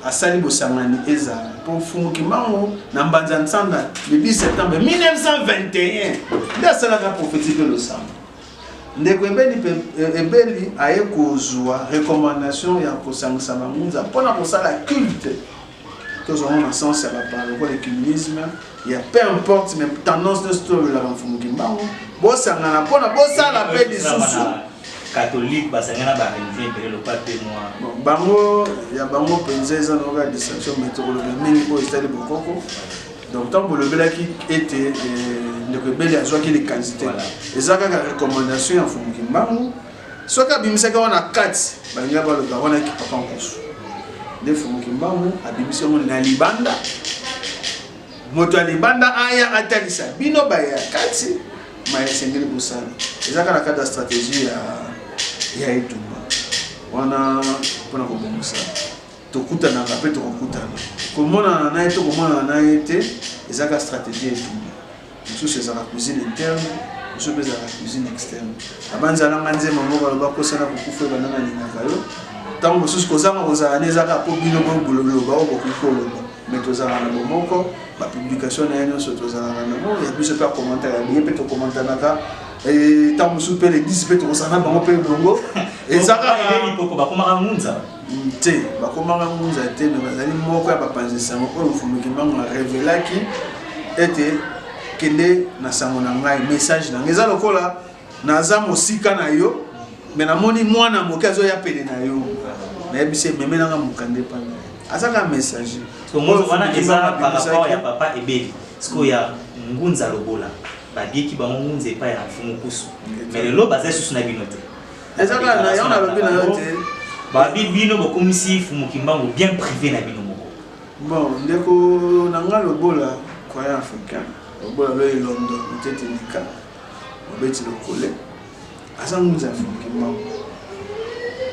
asali bosangani ezala mpo mfumu kimbangu na mbanza nsanga le 10 septembre 1921 nde asalaka profeti mpe losambo ndeko ebeli mpe eh, ebeli aye kozwa recommandation ya kosangisa bangunza mpo na kosala culte tozwango na sens ya bapara lokola ecumenisme ya peu importe mais tendance nyonso tolobelaka mfumu kimbangu bosangana mpona bosala mpe lisusu catholique basangana na ba religion ebele lokola te mwa bango ya bango mpenza eza na oka distinction mai tokoloba mingi oyo ezali bokoko donc ntango bolobelaki ete eh, ndeko ebele azwaki likanisi te eza kaka recommandation ya mfumu kimbangu soki abimisaki wana kati balinga baloba wana kipapa nkoso nde mfumu kimbangu abimisi yango na libanda Moto ya libanda aya atalisa bino baye ya kati maye esengeli kosala ezaka na kati ya strategie ya, ya etumba wana mpona kobongisa tokutanaka mpe tokokutana komonana na ye to komonana na ye te ezaka strategie etumba mosusu ezaka cuisine interne mosusu mpe ezalaka cuisine externe abanzalanga nzemba moko aloba kosana kokufa ebandana alingaka yo ntango mosusu kozanga kozala ne ezaka mpo bino boboloba oyo bokoki koloba mais tozalaka na bomoko bapublication na ye nyonso tozalaka nango ya biso mpe akomanta ya biye mpe tokomantanaka ntango mosusu mpe leglise mpe tokosana na bango mpe elongo eza bakomaka ngunza mm, te bakomaka ngunza te me bazali moko ya bapanzi nsango oyo mfumuki mbango arevelaki ete kende na sango na ngai message na ngai eza lokola naza mosika na yo me namoni mwana moke azoya pene na yo nayebisi ememe nanga mokanda epai na ye azaka messager wana eza par rapport ya papa ebeli sikoyo ya ngunza lobola babieki bango ngunza epai ya mfumu kusu me lelo baza lisusu na bino te eza kaka na yango nalobi na yo te babi bino bokomisi fumu kimbangu bien privé na bino moko bon ndeko na nga lobola croyant africain lobola loye londo motete ndika mobeti lokole aza ngunza ya fimiki mbango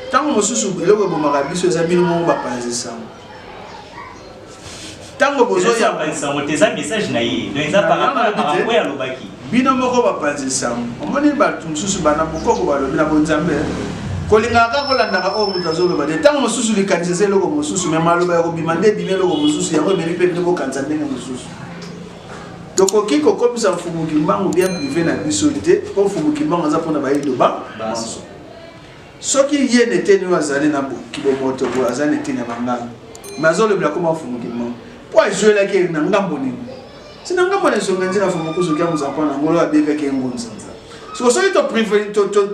ntango mosusu eloko ebomaka biso eza bino moko bapanzi nsango ntango bozoyamba nsango te eza message na ye donc eza parapo ya alobaki bino moko bapanzi nsango omoni bato mosusu bana bokoko balobi na bonzambe kolingaka kaka kolandaka oyo moto azoloba te ntango mosusu likanisi eza eloko mosusu me maloba ya kobima nde ebimi eloko mosusu yango ememi mpe bino bokanisa ndenge mosusu tokoki kokomisa mfumu kimbangu bien privé na biso te mpo mfumu kimbangu aza mpona bayindo ba banso soki ye na eteni oyo azali na kibomoto boye aza na eteni ya bangala me azolobela koma mfumu kimbangu mpo azuelaki na ngambo nini si na ngambo na esonga nzina mfumu kuzuki amuzampo na ngolo abekaki ye ngunza soko soki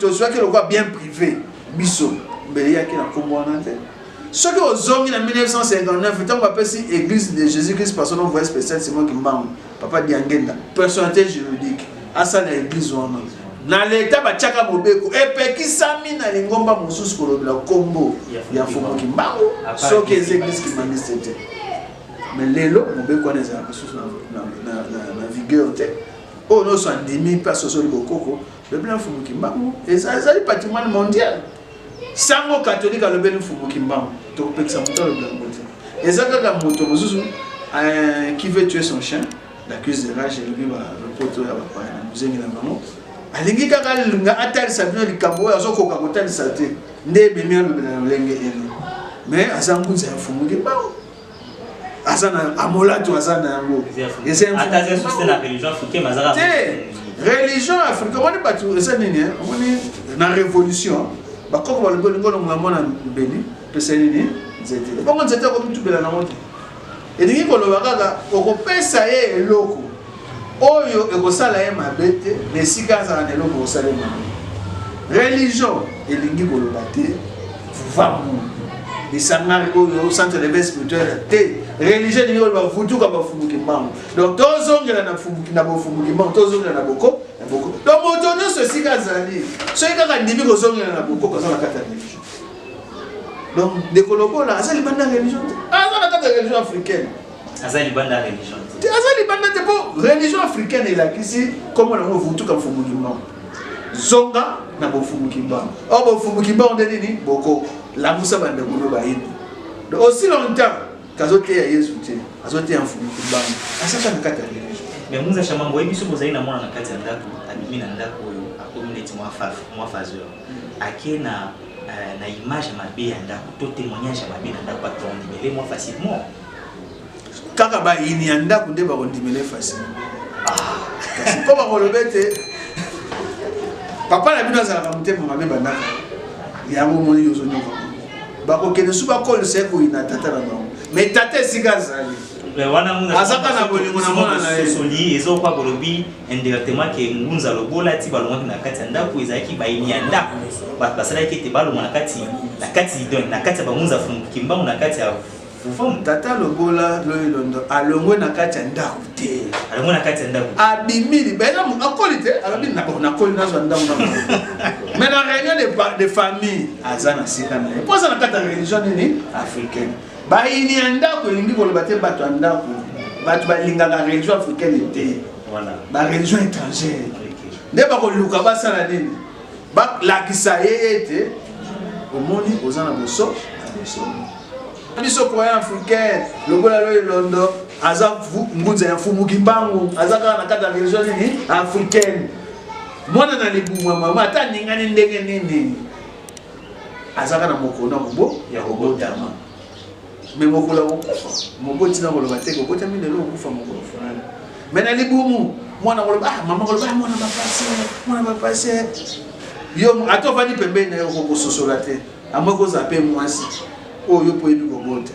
tozwaki lokola bien privé biso mbele yaki na nkombo wana te soki ozongi na 1959 ntango bapesi église de jésus christ personne envoyé spécial simon kimbangu papa diangenda personnalité juridique asala église wana na leta batiaka mobeko epekisami na lingomba mosusu kolobela nkombo ya mfumu kimbangu soki eza église kimbanguiste te me lelo mobeko wana ezalaka lisusu na vigueur te oyo nyonso andimi mpe asosoli bokoko lobela mfumu kimbangu ezali patrimoine mondial Sango catholique alobeli mfumu kimbangu tokopekisa moto alobela yango te eza kaka moto mosusu euh, qui veut tuer son chien l'accuse de rage elobi bapoto ya bapaya na mozengi na bango alingi kaka alinga atalisa bino likambo oyo azokoka kotalisa te nde ebemi alobela na lolenge eno mais aza ngunza ya mfumu kimbangu aza na amolato aza na yango religion africain omoni bato eza nini eh? omoni na révolution bakoko balobi olingi olongola mwana mbeli pesa nini nzete bongo nzete akomitubela nango te elingi koloba kaka okopesa ye eloko oyo ekosala ye mabe te na esika azala na eloko ekosala ye mabe religion elingi koloba te pouvoir moto lisanga oyo centre de vie spirituel te religion elingi koloba vutuka bafumuki mbango donc tozongela na bofumuki mbango tozongela na boko na boko donc moto nyonso esika azali soki kaka ndimi kozongela na boko koza na kati ya religion donc ndeko lokola aza libanda ya religion te aza na kati ya religion africaine aza libanda religion te aza libanda te mpo religion africaine elakisi nkombo nango vutuka mfumu kimbangu zonga na bofumu kimbangu o bofumu kimbangu nde nini boko lamusa bandeko no bayini donc aussi longtemps kazoteya yesu te azoteya mfumu kimbangu asaka na kati ya religion mais muza shamango oyebi soki ozali na mwana na kati ya ndako abimi na ndako oyo akomi neti mwa fazeur mm. ake na euh, na image mabe ya ndako to témoignage ya mabe na ndako atondi mele mwa facilement kaka bayini ya ndako nde bakondimela efasi ah, kasi mpo bakoloba ete papa na bino azalaka motema mabe bandaka yango omoni ozonyoka bakokende su bakolisa ye koyina tata na bango me tata esika azali azaka na bolingo na mwana na yesoli ezokoka bolobi indirectement ke ngunza lobola ti balongaki na kati ya ndako ezalaki bayini ya ndako bato basalaki ete balonga na kati na kati ya bangunza fumuki mbango na kati ya Fufu mutata lobola loilondo alongwe na kati ya ndako te. Alongwe na kati ya ndako. Abimi libela mu akoli te alobi na bon akoli nazwa ndako na bango. Mais na réunion de, pa- de famille aza na sika na ye. Mpo aza na kati ya religion nini africaine. Bayini ya ndako elingi koloba te bato ya ndako. Bato balingaka religion africaine te. Voilà. Ba religion étrangère. Nde bakoluka basala nini? Balakisa ye ete omoni oza na boso na boso. biso croyant africain lokola loye londo aza ngunza ya mfumu kimbangu aza kaka na kati ya religion nini africaine mwana na libumu ya mama ata aningani ndenge nini azaka na mokolo na mobo ya kobotama me mokolo ya kokufa moko ntina koloba te kobotami lelo kokufa mokolo fulani me na libumu mwana koloba ah, mama koloba ah, mwana bapase mwana bapase yo ata ovandi pembeni na yo okokososola te Amwe koza pe mwasi oyo yo poyebi kobota.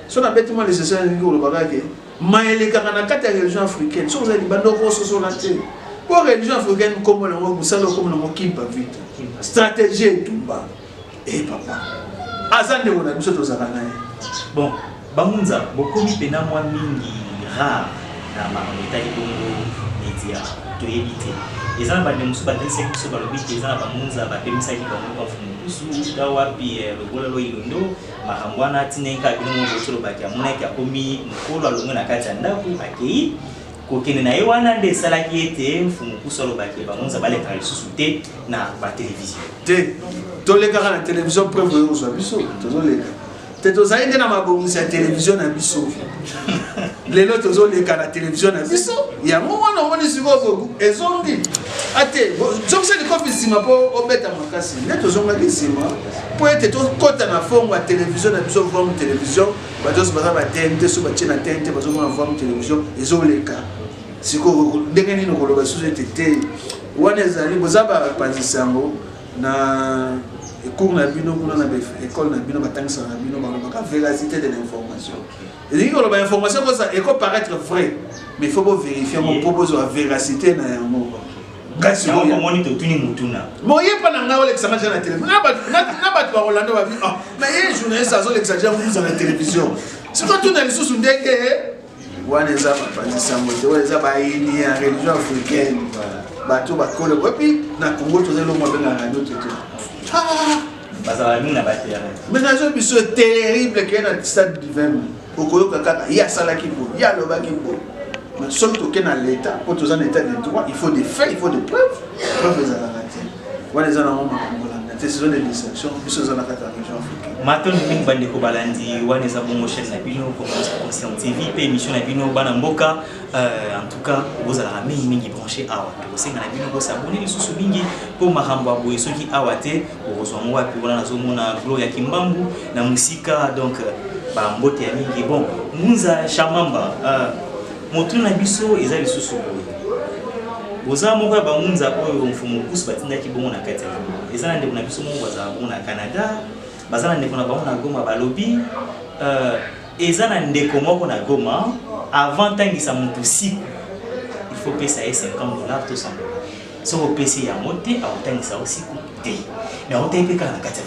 So na beti mwa lisese na lingi koloba kaka ke maye elekaka na kati ya religion africaine soki oza libanda okososola te mpo religion africaine nkombo na yango mosala okomi na yango kimpa vita stratégie etumba e papa aza ndeko na biso tozalaka na ye bon Bangunza bokomi pena mwa mingi rare na makambo etali bongo media toyebi te eza na bande mosusu bakinisaki biso balobi te eza na bangunza bapemisaki bango bafu mokusu ta wapi eh, lobola lo ilondo makambo wana atindaki kaka bino moko bosolobaki amonaki akomi mokolo alongwe na kati ya ndako akei kokende na ye wana nde esalaki ete mfumu kusu alobaki bangonza balekaka lisusu te na batelevizio te tolekaka na televizio preuve oyo ozwa biso tozoleka te tozali nde na mabongisi ya televizio na biso lelo tozoleka na televizio na biso yango wana omoni sikoyo ezongi ate zongisa likofi nsima mpo obeta makasi nde tozongaki nsima mpo ete tokɔta na fongo ya televizio na biso vam televizio bato nyonso baza batn te so batie na tn te bazomona vam televizio ezoleka sikoyo ndenge nini okoloba lisusu ete te wana ezali boza bapanzi sango na cours na bino kuna na école na bino batangisaka na bino balobaka véracité de l'information elingi koloba information kosa eko paraître vrai mais faut bovérifie yango mpo bozwa véracité na yango kasi omoni totuni motuna moyepa na ngai olekisa ngai ja na telefone na bato bakolanda babi na ye journaliste azolekisa ja muza na télévision sikoy tuna lisusu ndenge wana eza bapanzi sango te wana eza bayini ya religion africaine bato bakole epi na congo toza elongo abengaka radio te te bazalaka mingi na baterrain menage biso terrible keye na stade du 20 okoyoka kaka ye asalaki bo ye alobaki bo soki toke na leta mpo toza na état de droit il faut des faits il faut des preuves preuve ezalaka wana eza nango makambo olanda te saison de distraction biso eza na kati ya région africaine matondo mingi bandeko balandi wana eza bongo chaîne na bino conscient tv mpe émission na bino bana mboka euh, en tout cas bozalaka mingi mingi branché awa tokosenga na bino bosabone lisusu mingi mpo makambo ya boye soki awa te okozwa ngo wapi wana nazomona glo ya kimbambu na mosika donc euh, bambote ya mingi bon munza shamamba euh, Motu na biso eza lisusu boye boza moko ya bangunza oyo mfumu kusu batindaki bongo na kati ya goma eza na ndeko na biso moko bazala bongo na canada baza na ndeko na bango na goma balobi uh, eza na ndeko moko na goma avant ntangisa motu siku il faut pesa ye 50 dollar to 100 dollar soki opesi yango te akotangisa yo siku te me akotai mpe kaka na kati ya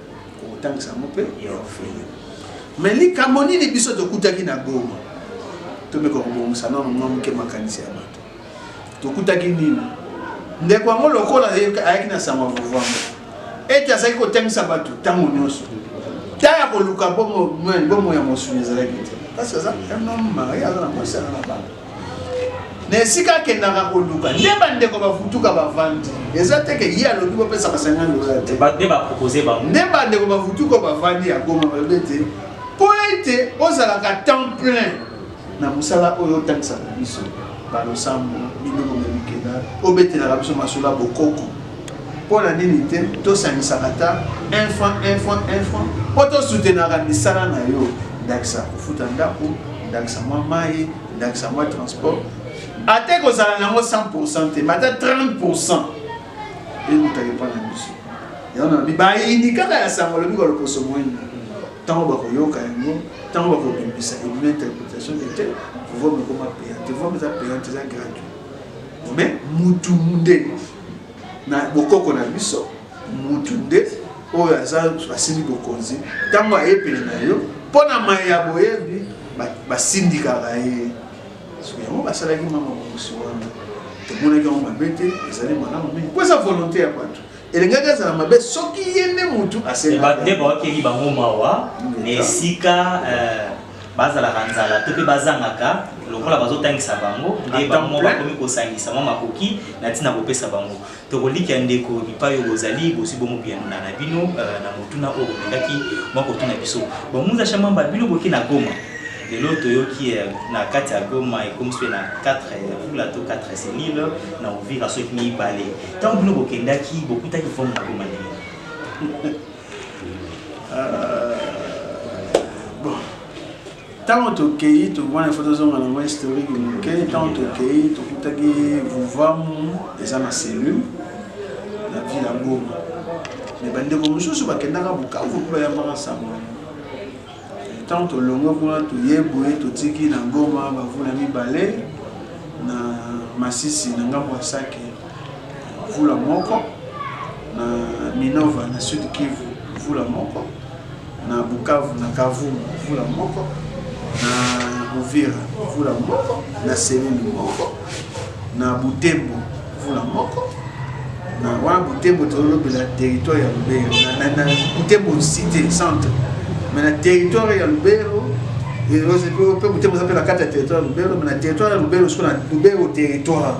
kotangisa yango mpe ya ofele me likambo nini biso tokutaki na goma tomeka kobongisa nano mwa moke makanisi ya bato tokutaki nini ndeko yango lokola ayaki na sango ya kovanda ete azalaki kotangisa bato ntango nyonso ta ya koluka bomo ya mosuni ezalaki te kasi aza un homme marie aza na mwasi aza na bana na esika akendaka koluka nde bandeko bafutuka bavandi eza te ke ye alobi bopesa basanga lola te nde bandeko bafutuka bavandi ya goma balobi ete mpo ete ozalaka temps plein na mosala oyo otangisaka biso balosambo biloko mya mikenda obetelaka biso masolo ya bokoko mpo na nini te tosangisaka ata un franc un franc un franc mpo tosutenaka misala na yo ndakisa kofuta ndako ndakisa mwa mai ndakisa mwa transport ata ekozala nango 100 pourcent te mata 30 pourcent eutaka epa na biso yango nabi bayini kaka ya sango alobi koloposo moyini ntango bakoyoka yango ntango bakobimisa ebima interprétation ete pouvoir mekoma payante pouvoir eza payante eza gratuit mais mutu nde na bokoko na biso mutu nde oyo aza asili bokonzi ntango aye pene na yo mpo na maye ya boyebi basindikaka ye soki yango basalaki mama mokosi wana tomonaki yango mabe te ezali malamu mingi mpo eza volonté ya bato elingaki azala mabe soki ye nde motu asenga nde baokeli bango mawa na esika eh, bazalaka nzala to mpe bazangaka lokola bazotangisa bango nde bango bakomi kosangisa mwa makoki na ntina kopesa bango tokolikia ndeko bipai oyo bozali bozwi bongo biyanuna na bino euh, na motuna oyo bolingaki mwa kotuna biso bomuza shamamba bino boki na goma lelo toyoki euh, na kati ya goma ekomi soki na 4 vula to 4 selile na ovira soki mibale ntango bino bokendaki bokutaki forme na goma ndenge ntango tokei tokomana ifo tozonga nango historique moke ntango tokei tokutaki vuvamu eza na cellule na ville ya goma me bandeko mosusu bakendaka bukavu mpo bayambaka nsango Ntango tolongwe kuna, toyei boye, totiki na Goma bavula mibale, na Masisi na ngambo ya Sake vula moko, na Minova na Sud Kivu vula moko, na Bukavu na Kavumu vula moko, na Uvira vula moko, na Selili moko, na Butembo mvula moko na wana butembo tozolobela territoire ya lubero na butembo cité centre mais na territoire ya lubero mpe butembo eza mpe na kati ya territoire ya lubero mais na territoire ya lubero siko na lubero territoire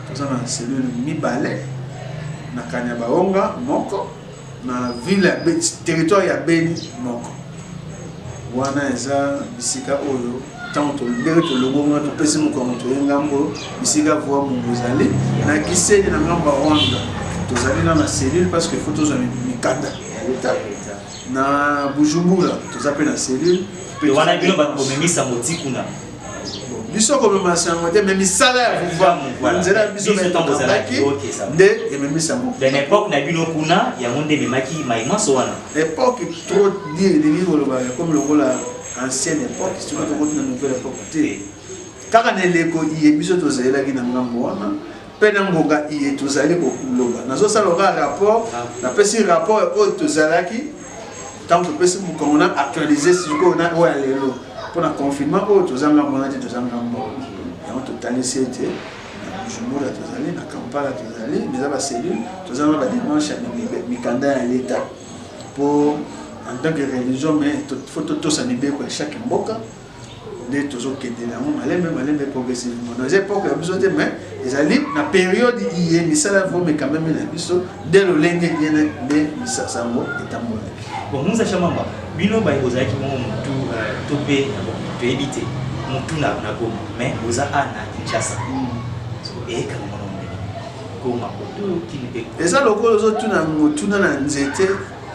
toza na cellule mibale na kanya baonga moko na ville ya beni territoire ya beni moko wana eza bisika oyo ntango tolobeli tolobonga topesi mokongo toye ngambo bisika voi mongo ezali na kiseni na ngambo ya rwanda tozali na na cellule parce que faut tozwa mikanda ya leta na bujumbura toza mpe na cellule wana bino bato bomemisa moti kuna biso komema sango te me misala ya vuva na nzela ya biso etambaki nde ememisa yango ben epoque na bino kuna yango nde ememaki maimanso wana epoque trop die elingi koloba ekomi lokola ancienne époque soki tokoti na nouvelle époque te kaka na eleko iye biso tozalelaki na ngambo wana mpe na ngonga iye tozali koloba nazosala oka rapport ah. napesi rapport oyo tozalaki ntango topesi mokongo na actualise sikoyo na oyo ya lelo mpo na confinement oyo toza ngambo wana te toza ngambo yango totalisi ete na bujumbura tozali na kampala tozali eza bacellule toza na bademarche ya mikanda ya leta mpo en tant que religion mais faut totosa mibeko ya chaque mboka nde tozokendela yango malembe malembe progressivement donc eza epoke ya biso te mais ezali na periode iye misala vomeka meme na biso nde lolenge yene nde misasango etambolaki Bon, Musa Shamamba, bino baye bozalaki bongo mutu euh, to mpe toyebi te mutu na na Goma mais boza a na Kinshasa eyekama mwana mondele Goma Poto kini mpe eza lokola ozotuna motuna na nzete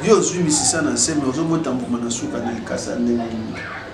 yo ozwi misisa na nse me ozobota mbuma na suka na likasa ndenge nini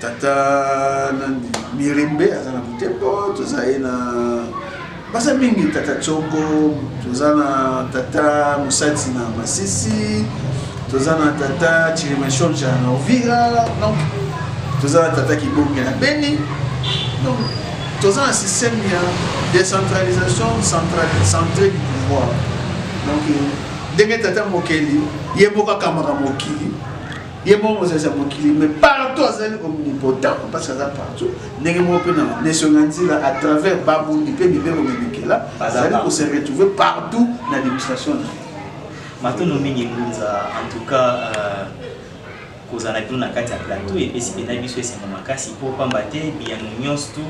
tata nani mirembe aza na butembo toza ye na baza mingi tata tsoko toza na tata mosati na masisi toza na tata chirimashonja na ovira donc toza na tata kibonge na beni donc toza na système ya décentralisation centré du pouvoir donc ndenge tata mokeli ye moko akamaka mokili ye moko mozalisi ya mokili me partout azali omnipotent parce aza partout ndenge moko mpe na nation na nzela à travers babundi mpe mibeko mibikela azali ko se retrouver partout na administration na matono mingi ngunza en tout cas euh, kozala bino na kati ya plateau epesi mpena biso esengo makasi mpo pamba te biyano nyonso tu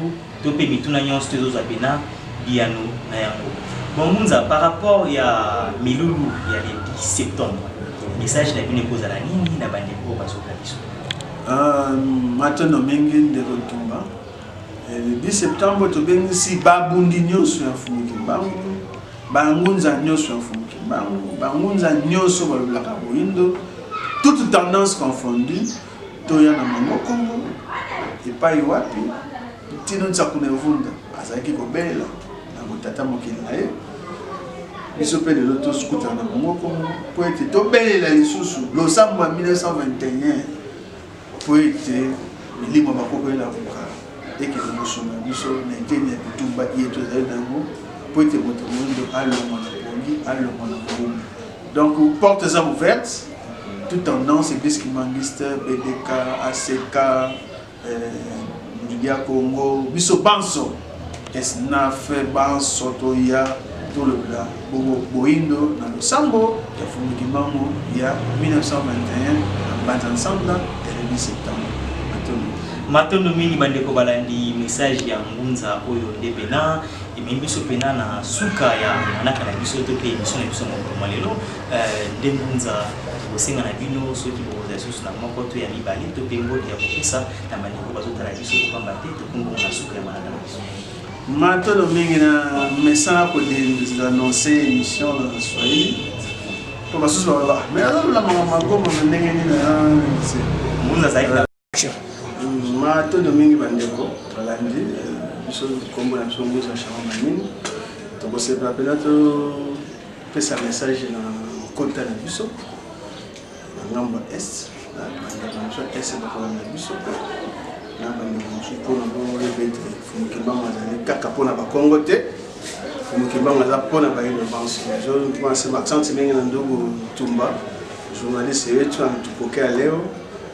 to pe mituna nyonso to ezozwa pena biyano na yango bon munza par rapport ya milulu ya le 10 septembre message na bino ekozala nini na bandeko oyo bazoka biso ah, matono mingi ndeko ntumba eh, le 10 septembre tobengisi babundi nyonso ya fumuki mbangu bangunza nyonso ya fumuki mbangu bangunza nyonso balobelaka boyindo toute tendance confondue toya na mango kongo epai wapi ntino nsaku na evunda azalaki kobelela na botata mokili na ye biso mpe lelo tokutana na bango kongo mpo ete tobelela lisusu losambo ya 1921 mpo ete milimo bakoko elamuka ekende kosunga biso na eteni ya bitumba iye tozali na yango mpo ete moto moindo alongwa na pongi alongwa na moumbu Donc porte eza ouverte toute tendance eglise kimangiste BDK ACK euh, Julia Congo biso banso esnaf banso toya tolobela bongo boindo na losambo ya fumuki mango ya 1921 na mbanza nsambla telebi septembre matondo matondo mingi bandeko balandi message ya ngunza oyo nde pena ememi biso mpena na suka ya manaka na biso to mpe emission na biso mokoma lelo eh, nde mbunza kosenga na bino soki bokozala lisusu na moko to ya mibale to mpe mbote ya kopesa na bandeko bazotala biso kopamba te tokombongo na suka ya manaka na biso matolo mingi na mesana kodenonse émission na swahili mpo basusu baloba me azolula makambo magomo na ndenge nini na mbunza azalaki matondo mingi bandeko balandi eh, biso nkombo na biso mbuza charles manini tokosepela mpena topesa message na kota na biso na ngambo ya est bandeko na biso ya est bakolanda biso na bandeko mosusu mpona boyebete fumukimbango azali kaka mpona bakongo te fumukimbango aza mpona bayino banso mpona se maxante ndenge na ndugu tumba journaliste yetu anatupokea leo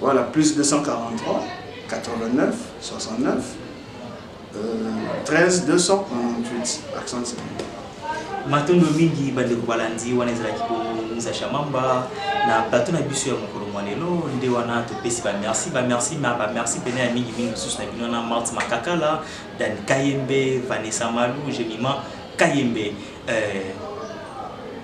Voilà, plus 243, 89, 69, euh, 13, 298, accent matondo mingi bandeko balandi wana ezalaki bomusa shamamba na plateau na biso ya mokolo mwa lelo nde wana topesi bamerci bamerci ma bamerci mpena ya mingi mingi lisusu na bino wana marte makakala dan kayembe vanessa malu gemima kayembe euh,